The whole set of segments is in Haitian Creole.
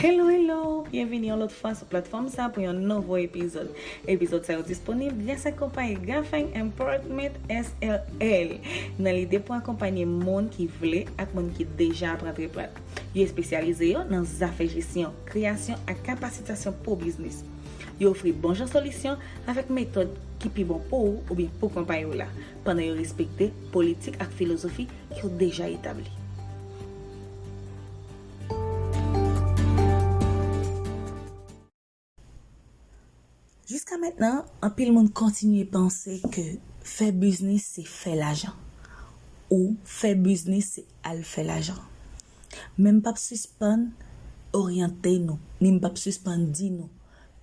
Hello hello, byenvini yon lòt fwa sou platfòm sa pou yon nouvo epizòd. Epizòd sa yo disponib gras ak konpayi Gaffang Importment SRL nan lide pou akonpanye moun ki vle ak moun ki deja ap rantre plat. Yo espesyalize yo nan zafè jesyon, kreyasyon ak kapasitasyon pou biznis. Yo ofri bon jan solisyon avèk metòd ki pi bon pou ou oubyen pou konpayi w la. pandan yo respekte politik ak filozofi ki yo deja etabli. Jiska mentnan, anpil moun kontinye panse ke fè biznis se fè lajan, ou fè biznis se al fè lajan. Men m pap sispann oryante nou, ni m pap sispann di nou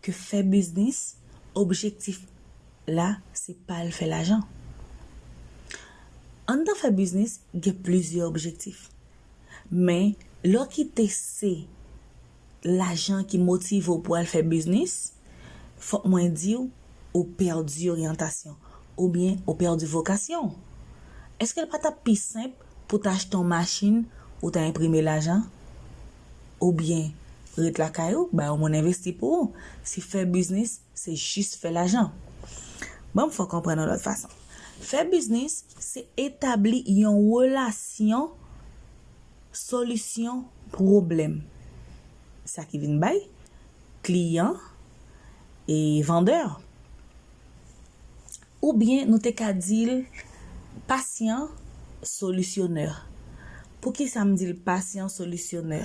ke fè biznis, objektif la se pa al fè lajan. Anndan fè biznis gen plizyè objektif. Men lè w kite se lajan ki motive w pou al fè biznis, fòk mwen di w ou pèdi oryantasyon oubyen ou pèdi vokasyon w. Eske l pa t ap pi senp pou w t achte yon machin ou ta enprime lajan? Oubyen ret lakay ou bay yon moun envesti pou ou si fè biznis Se jis fè lajan. Banm fè w konprann yon lòt fason. Fè biznis se etabli yon relasyon solisyon pwoblèm. Sa ki vin bay kliyan e vandè. Oubyen nou te ka di l pasyan solisyonè. Poukisa m di l pasyan solisyonè?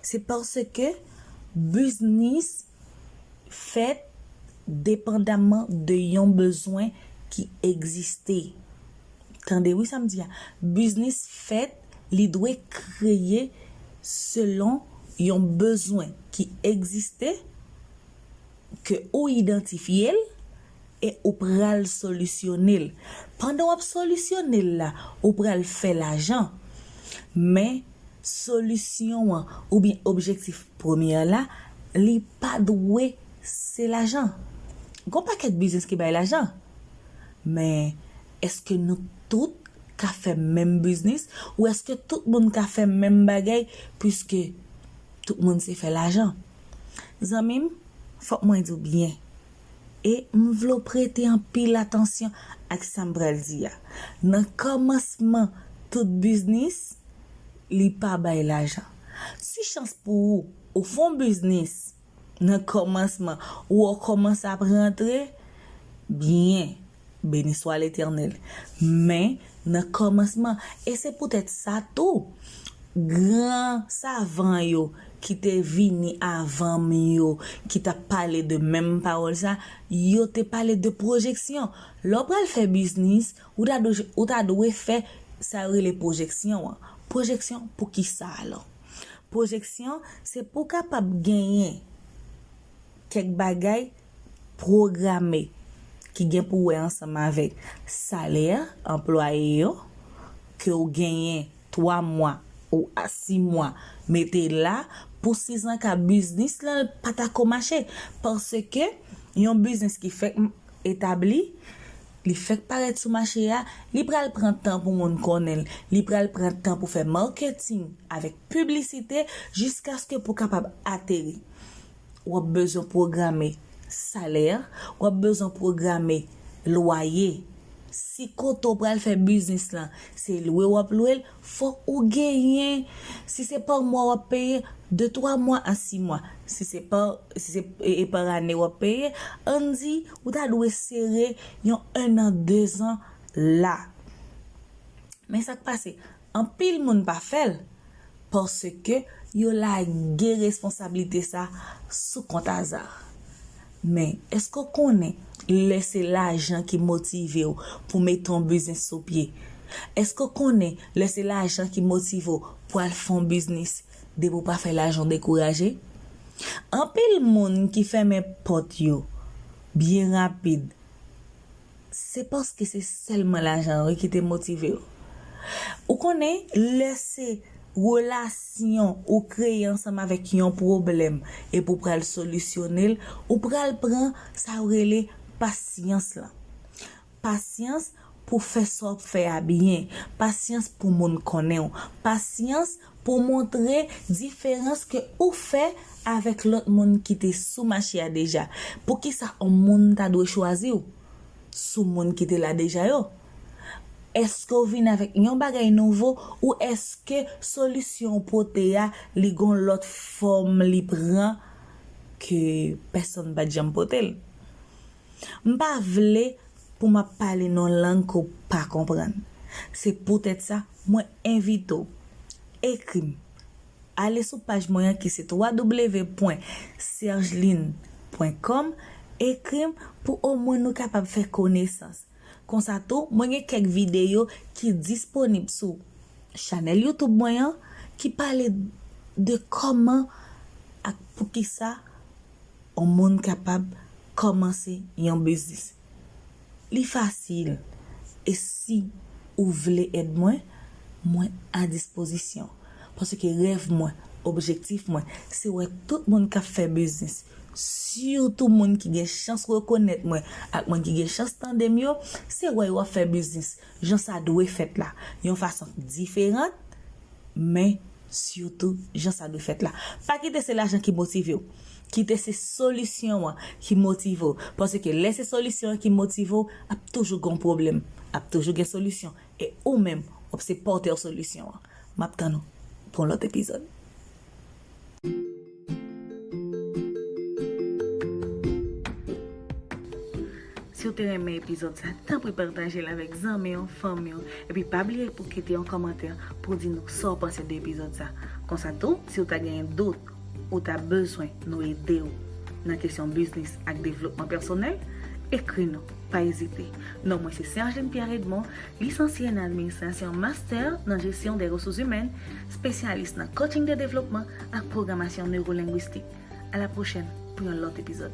Se paske biznis fèt depandamman de yon bezwen ki egziste. Tande wi sa m di a, biznis fèt li dwe kreye selon yon bezwen ki egziste ke ou idantifye l E ou pral solisyone l. Pandan w ap solisyone l la, ou pral fè lajan. Men, solisyon an oubyen objektif Première la, li pa dwe se lajan. Gon pakèt biznis ki bay lajan. Men, èske nou tout ka fè menm biznis ou èske tout moun ka fè menm bagay puiske tout moun se fè lajan? Zanmi m, fòk mwen di w byen. e m vle w prete anpil atansyon ak sa m pral di a. Nan kòmansman tout biznis, li pa bay lajan. Si chans pou ou, ou fon biznis nan kòmansman ou o kòmanse ap rantre byen Beni swa Letènèl. Men, nan kòmansman, e se poutèt sa tou, gran savan yo ki te vini avan m yo, ki t ap pale de menm pawòl sa, yo te pale de pwojeksyon. Lè w pral fè biznis, ou ta dwe, ou ta dwe fè sa yo rele pwojeksyon an. Pwojeksyon pou ki sa alò? Pwojeksyon, se pou w kapab genyen kèk bagay pwograme ki gen pou wè ansanm avèk salè anplwaye yo ke w genyen 3 mwa ou a 6 mwa mete l la pou sizanka biznis lan l pa ta ko mache paske yon biznis ki fèk etabli li fèk parèt sou mache a li pral pran tan pou moun konnen l li pral pran tan pou fè marketing avèk piblisite jiskaske pou kapab ateri. w ap bezwen pwograme salè, w ap bezwen pwograme lwaye. Si kote w pral fè biznis lan se lwe w ap lwe l, fòk ou genyen, si se pa mwa w ap peye, de twa mwa a si mwa. Si se pa e pa ane w ap peye, ann di ou ta dwe sere yon ennan dezan la. Men sa k pase, Anpil moun pa fè l paske yo lage responsablite sa sou kont aza. Men, èske w konnen lè se lajan ki motive w pou w mete yon biznis sou pye? Èske w konnen lè se lajan ki motive w pou al fè yon biznis, depi w pa fè lajan w dekouraje? Anpil moun ki fèmen pòt yo byen rapid Se paske se sèlman lajan wi ki te motive yo. Ou konnen lè se relasyon ou kreye ansanm avèk yon pwoblèm epi ou pral solisyone l, ou pral pran sa yo rele pasyans lan. Pasyans pou fè sa w ap fè a byen, pasyans pou moun konnen w, pasyans pou montre diferans ke ou fè avèk lòt moun ki te sou mache a deja. Poukisa on moun ta dwe chwazi w sou moun ki te la deja yo? Eske w vin avèk yon bagay nouvo ou eske solisyon w pote a li gon lòt fòm li pran ke pèsonn pat janm pote l? M pa vle pou m ap pale nan yon lang ke w pa konprann. Se poutèt sa, mwen envite w, ekri m. Ale sou paj mwen an ki se www.sergeline pwen kòm, ekri m pou omwen nou kapab fè konesans. Konsa tou, mwen gen kèk videyo ki disponib sou chanèl YouTube mwen an ki pale de kòman ak poukisa yon moun kapab kòmanse yon biznis. Li fasil e si ou vle èd mwen, mwen a dispozisyon. Paske rèv mwen, objektif mwen, se wè tout moun k ap fè biznis, sitou moun ki gen chans rekonèt mwen ak moun ki gen chans tande m yo, se wè yo ap fè biznis. jan sa dwe fèt la, yon fason k diferant, men, sitou, jan sa dwe fèt la. Pa kite se lajan ki motive w. Kite se solisyon an ki motive w. Paske lè se solisyon an ki motive w, ap toujou gon pwoblèm. Ap toujou gen solisyon. E ou menm, w ap se pòtè solisyon an. M ap tann ou pou yon lòt epizòd. Si w te renmen epizòd sa, tanpri patajel avèk zanmi w, fanmi w, epi pa bliye pou kite yon kòmantè pou w di nou sa w panse de epizòd sa. Konsa tou, si w ta genyen dout ou ta bezwen nou ede w nan kesyon biznis ak devlopman pèsonèl, ekri nou, pa ezite. Non mwen se Sergeline Pierre Edmond, Lisansye nan Administrasyon Master nan Jesyon de Resous Imèn Spesyalis nan Coaching de Devlopman ak Pwogramasyon Newolenguistik A la pwochèn pou yon lòt epizòd.